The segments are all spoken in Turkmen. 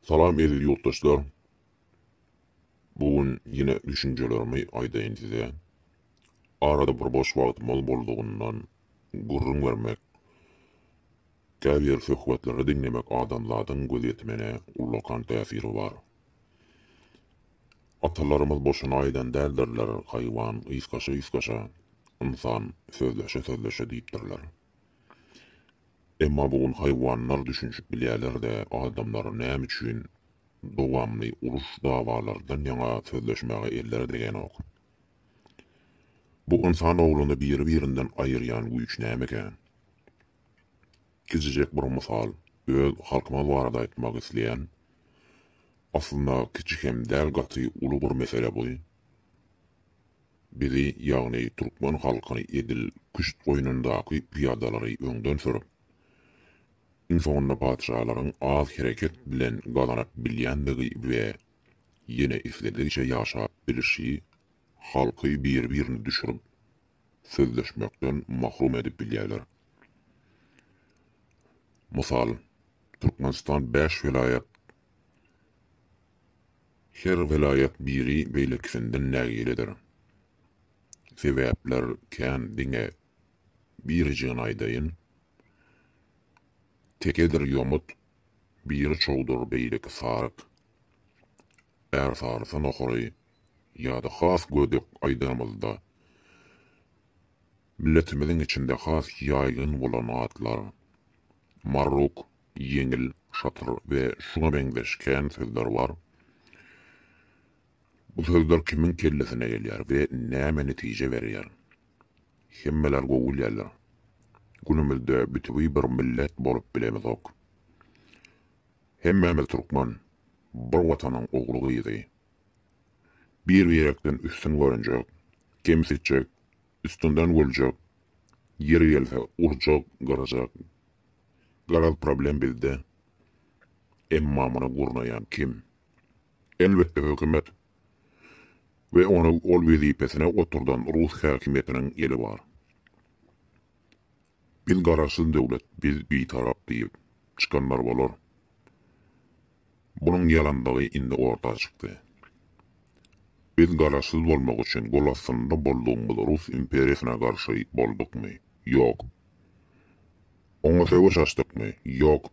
Salam eziz ýurtdaşlar. Bu gün ýene düşünjelerimi aýdaýyn size. Arada bir boş wagtymyz boldugyndan gürrüň bermek, käbir söhbetleri diňlemek adamzadyň gözýetimine ullakan täsiri bar. Atalarymyz boşuna aýdan däldirler, Haýwan ysgaşa-ysgaşa, ynsan sözleşe-sözleşe diýipdirler. Emma bu gün haýwanlar düşünişip bilýärler-de, adamlar näme üçin dowamly uruş-dawalardan ýaňa sözleşmäge elleri degänok? Bu ynsan ogluny biri-birinden aýyrýan güýç nämeka? Kiçijek bir mysal, öz halkymyz barada aýtmak isleýän, aslynda kiçi hem däl gaty uly bir mesele bu. Bizi, ýagny türkmen halkyny edil küşt goýnundaky pyýadalary öňden sürüp, iň soňunda patyşalaryň az hereket bilen gazanyp bilýändigi we ýene isledigiçe ýaşap bilişi, halky bir-birini düşürip, sözleşmekden mahrum edip bilýärler. Mysal, Türkmenistan bäş welaýat, Her welaýat biri beýlekisinden nägiledir. Sebäpler kän diňe birijigini aýdaýyn. Tekedir ýomut, biri çowdur beýleki saryk. Ärsarysa nohary ýa-da has gödek aýdanymyzda Milletimiziň içinde has ýaýgyn bolan atlar, marruk, ýeňil, şatyr we şuňa meňzeş kän sözler bar. Bu sözler kimiň kellesine gelýär we näme netije berýär? Hemmeler gowy bilýärler. Günümizde bütewi bir millet bolup bilemizok. Hemmämiz türkmen, bir Watanyň ogly-gyzy. Bir-birekden üstün görünjek, kemsitjek, Üstünden güljek, ýeri gelse urjak, gyrjak. Garaz problem bizde. Emma muny gurnaýan kim? Elbetde hökümet we ony ol wezipesine oturdan rus häkimiýetiniň eli bar. Biz garaşsyz döwlet, biz bitarap diýip çykanlar bolar. Bunuň ýalandygy indi orta çykdy. Biz garaşsyz bolmak üçin gol astynda boldugymyz rus imperiýasyna garşy boldukmy? Ýok. Oňa söweş açdykmy? Ýok.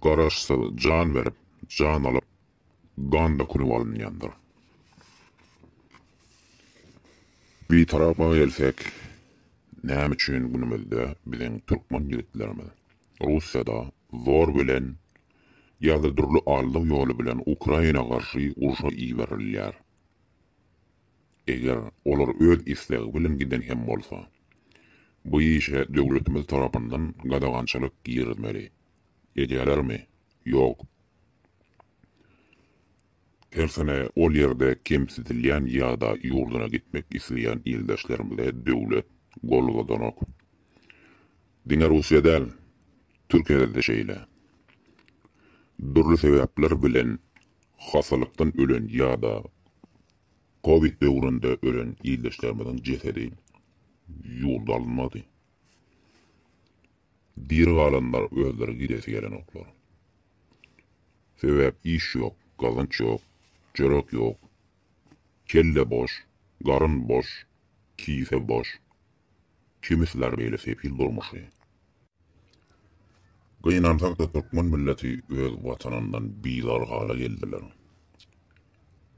Garaşsyz jan berip, jan alyp, gan dökülip alynýandyr. Bitarapa gelsek, näme üçin günümizde biziň türkmen ýigitlerimiz Russiýada zor bilen ýa-da dürli aldaw ýoly bilen Ukraina garşy urşa iberilýär. Eger olar öz islegi bilen giden hem bolsa, bu işe döwletimiz tarapyndan gadagançylyk girizmeli. Edýälermi? Ýok. Tersine ol ýerde kemsidilýän ýa-da ýurduna gitmek isleýän ildeşlerimize döwlet gol uzadanok. Diňe Russiýa däl, Türkiýede-de şeýle. Dürli sebäpler bilen hassalykdan ölen ýa-da covid döwründe ölen ildeşlerimiziň jesedi ýurda alynmady. Diri galanlar özleri gidesi gelenoklar. Sebäp iş ýok, gazanç ýok, çörek ýok. Kelle boş, garyn boş, kise boş. Kimi siler beýle sefil durmuşy. Gynansakda türkmen milleti öz watanyndan bizar hala geldiler.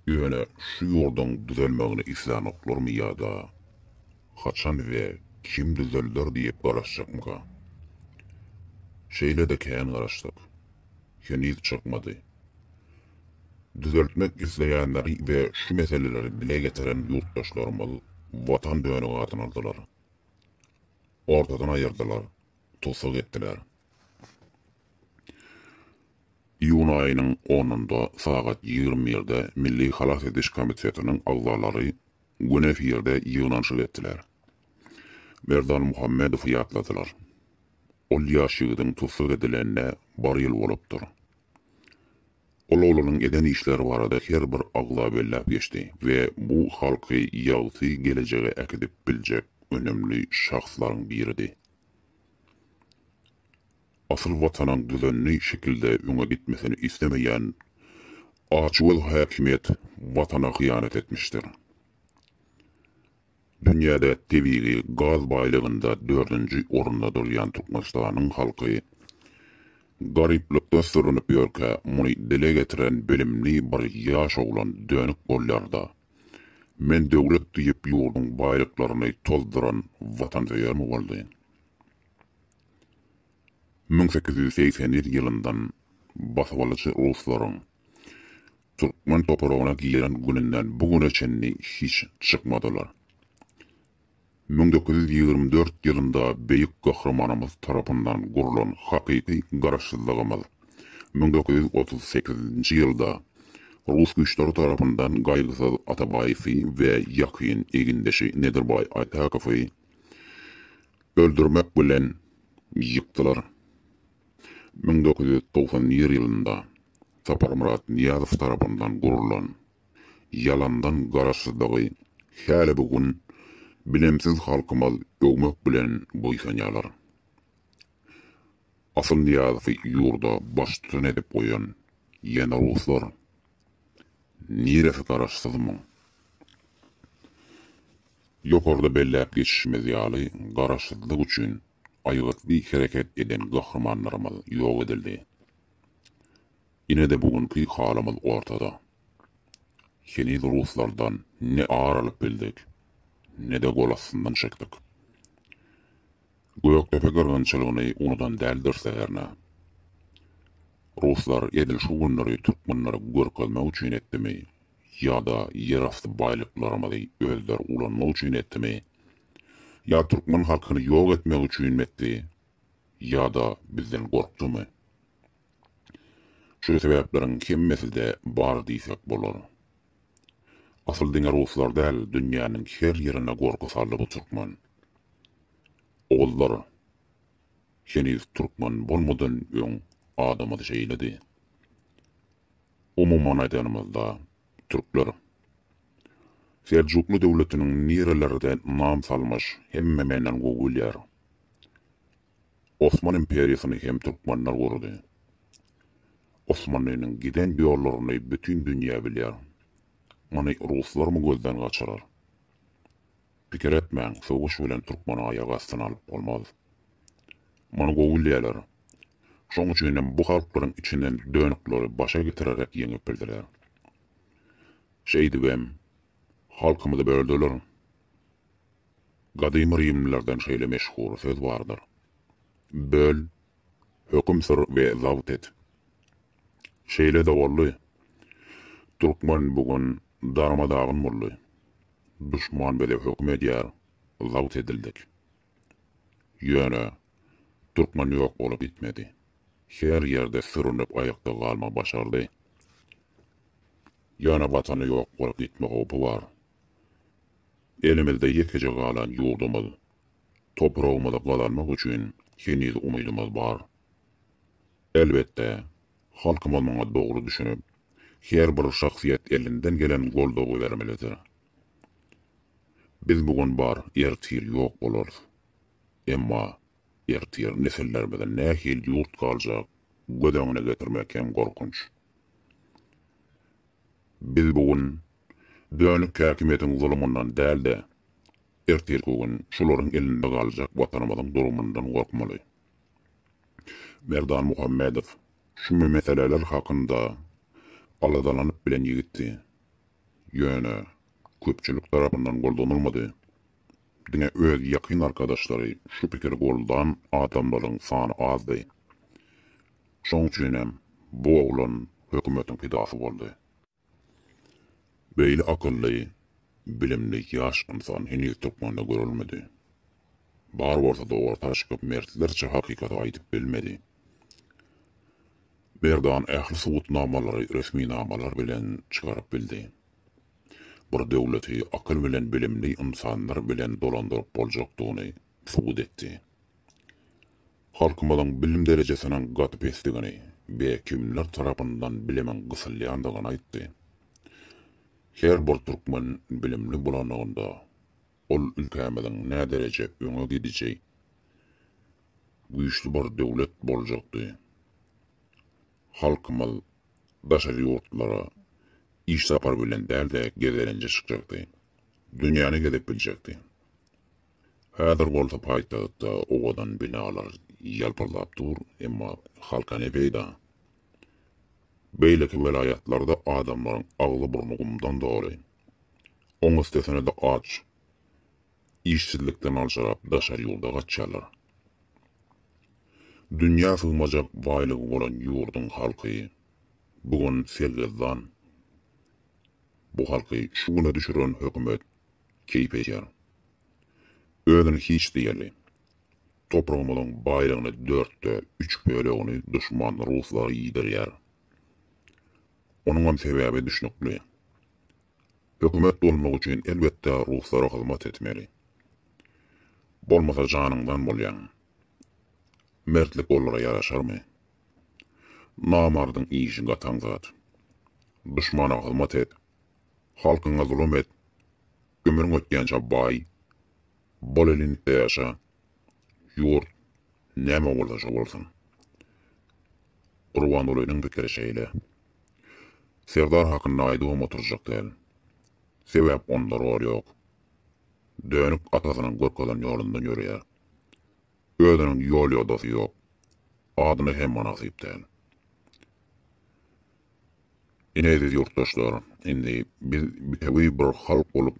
Ýöne şu ýurduň düzelmegini islänoklarmy ýa-da haçan we kim düzelder diýip garaşjakmyka? Şeýle-de kän garaşdyk. Heniz çykmady. Düzeltmek isleýänleri we şu meseleleri dile getiren ýurtdaşlarymyz Watan dönügi adyny aldylar. Ortadan aýyrdylar, tussag etdiler. Iýun aýynyň onunda sagat ýigrimi birde Milli halas ediş komitetiniň agzalary gün efirde ýygnanyşyk etdiler. Merdan Muhammedowy ýatladylar. Ol ýaş ýigidiň tussag edilenine bir ýyl bolupdyr. Ol oglanyň eden işleri barada her bir agza belläp geçdi we bu halky ýagty gelejege äkidip biljek önemli şahslaryň biridi. Asyl Watanyň düzenli şekilde öňe gitmesini islemeýän açgöz häkimiýet Watana hyýanat etmişdir. Dünýäde tebigy gaz baýlygynda dördünji orunda durýan Türkmenistanyň halky garyplykda sürünip ýörkä, muny dile getiren bilimli bir ýaş oglan dönük bolýar-da, Men döwlet diýip ýurduň baýlyklaryny tozduran watansöýermi boldy? Müň sekiz ýüz segsen ýedinji ýylyndan basybalyjy ruslaryň türkmen topragyna giren gününden bu güne çenli hiç çykmadylar. Müň dokuz ýüz ýigrimi dört ýylynda Beýik Gahrymanymyz tarapyndan gurlan hakyky Garaşsyzlygymyz müň dokuz ýüz otuz sekizinji ýylda rus güýçleri tarapyndan Gaýgysyz Atabaýewi we ýakyn egindeşi Nedirbaý Aýtakowy öldürmek bilen ýykdylar. Müň dokuz ýüz togsan nji ýylynda Saparmyrat Nyýazow tarapyndan gurlan ýalandan Garaşsyzlygy häli bu gün bilimsiz halkymyz öwmek bilen buýsanýarlar. Asyl Nyýazowy ýurda baştutan edip goýan ýene ruslar. Niresi Garaşsyzmyň? Ýokarda belläp geçişimiz ýaly Garaşsyzlyk üçin aýgytly hereket eden gahrymanlarymyz ýok edildi. Ine-de bu günki halymyz ortada. Heniz ruslardan ne ar alyp bildik, ne-de gol astyndan çekdik. Gökdepe gyrgynçylygyny unudan däldiris-de hernä. Ruslar edil şu günleri türkmenlere görkezmek üçin etdimi ýa-da ýerasty baýlyklarymyzy özleri ulanmak üçin etdimi, Ýa türkmen halkyny ýok etmek üçinmi etdi, ýa-da bizden gorkdumy? Şu sebäpleriň hemmesi-de bar diýsek bolar. Asyl diňe ruslar däl, dünýäniň her ýerine gorky saldy bu türkmen. Ogullar, heniz türkmen bolmadan öň adamyz şeýledi. Umuman aýdanymyzda, türkler. Seljukly döwletiniň nirelerde nam salmyş hemme menden gowy bilýär. Osman imperiýasyny hem türkmenler gurdy. Osmanlynyň giden ýollaryny bütin dünýä bilýär. Muny ruslarmy gözden gaçyrar. Pikir etmäň söweş bilen türkmeni aýak astyna alyp bolmaz. Muny gowy bilýärler. Şoň üçinem bu halklaryň içinden dönükleri başa getirerek ýeňip bildiler. Şeýdibem, halkymyzy böldüler. Gadymy rimlilerden şeýle meşhur söz bardyr, Böl, höküm sür we zabt et. Şeýle-de boldy. Türkmen bu gün darma-dagyn boldy. Duşman bize höküm edýär, zabt edildik. Ýöne, türkmen ýok bolup gitmedi. Her ýerde sürünip aýakda galma başardy. Ýöne Watany ýok bolup gitme howpy bar. Elimizde ýekeje galan ýurdumyz, topragymyzy gazanmak üçin heniz umydymyz bar. Elbetde, halkymyz muňa dogry düşünip, her bir şahsyýet elinden gelen goldawy bermelidir. Biz bu gün bar, ertir ýok bolarys. Emma ertir nesillerimize nähili ýurt galjak göz öňüne getirmek hem gorkunç. Biz bu gün dönük häkimiýetiň zulumyndan däl-de, ertirki gün şularyň elinde galjak Watanymyzyň durumyndan gorkmaly. Merdan Muhammedow şu meseleler hakynda aladalanyp bilen ýigitdi. Ýöne köpçülik tarapyndan goldanylmady. Diňe öz ýakyn arkadaşlary şu pikiri goldan adamlaryň sany azdy. Şoň üçin hem bu oglan hökümetiň pidasy boldy. Beýle akylly, bilimli ýaş ynsan heniz türkmende görülmedi. Bar bolsa-da orta çykyp mertlerçe hakykaty aýdyp bilmedi. Merdan ähli subutnamalary resminamalar bilen çykaryp bildi. Bir döwleti akyl bilen bilimli ynsanlar bilen dolandyryp boljakdygyny subut etdi. Halkymyzyň bilim derejesiniň gaty pesdigini we kimler tarapyndan bilimiň gysylýandygyny aýtdy. Her bir türkmen bilimli bolanlygynda Ol ülkämiziň nädereje öňe gidiji, güýçli bir döwlet boljakdy. Halkymyz daşary ýurtlara iş sapary bilen däl-de gezelenje çykjakdy. Dünýäni gezip biljekdi. Häzir bolsa paýtagtda owadan binalar ýalpyldap dur, emma halka ne peýda? Beýleki welaýatlarda adamlaryň agzy-burny gumdan doly. Oň üstesine-de aç, işsizlikden aljyrap daşary ýurda gaçýarlar. Dünýä sygmajak baýlygy bolan ýurduň halky bu gün sergezdan. Bu halky şu güne düşüren hökümet keýp edýär. Özüni hiç diýerli. Topragymyzyň baýlygyny dörtde üç bölegini duşman ruslara iýdirýär. Onuňam sebäbi düşnükli. Hökümet bolmak üçin elbetde ruslara hyzmat etmeli. Bolmasa janyňdan bolýaň. Mertlik olara ýaraşarmy? Namardyň işi gataň zat. Duşmana hyzmat et, halkyňa zulum et, ömrüň ötýänçä baý, bol elinlikde ýaşa, Ýurt näme bolsa şo bolsun. Gurbangulynyň pikiri şeýle. Serdar hakynda aýdybam oturjak däl. Sebäp onda rol ýok. Dönük atasynyň görkezen ýolundan ýöreýär. Özüniň ýol-ýodasy ýok. Adyna hem mynasyp däl. Ine eziz ýurtdaşlar, indi biz bitewi bir halk bolup,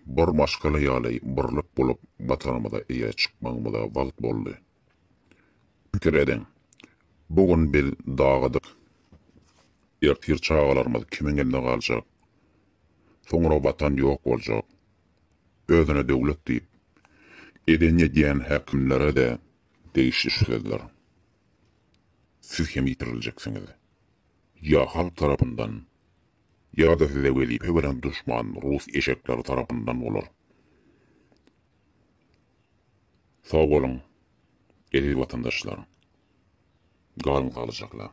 bir maşgala ýaly birlik bolup Watanymyza eýe çykmagymyza wagt boldy. Pikir ediň, bu gün biz dagydyk, ertir çagalarymyz kimiň elinde galjak, soňra Watan ýok boljak. Özüne döwlet diýip, eden edýän häkimlere-de degişli şu sözler. Siz hem ýitiriljeksiňiz. Ýa halk tarapyndan, ýa-da size wezipe beren duşman rus eşekleri tarapyndan bolar. Sag boluň, eziz watandaşlar! Galyň saglyjakla!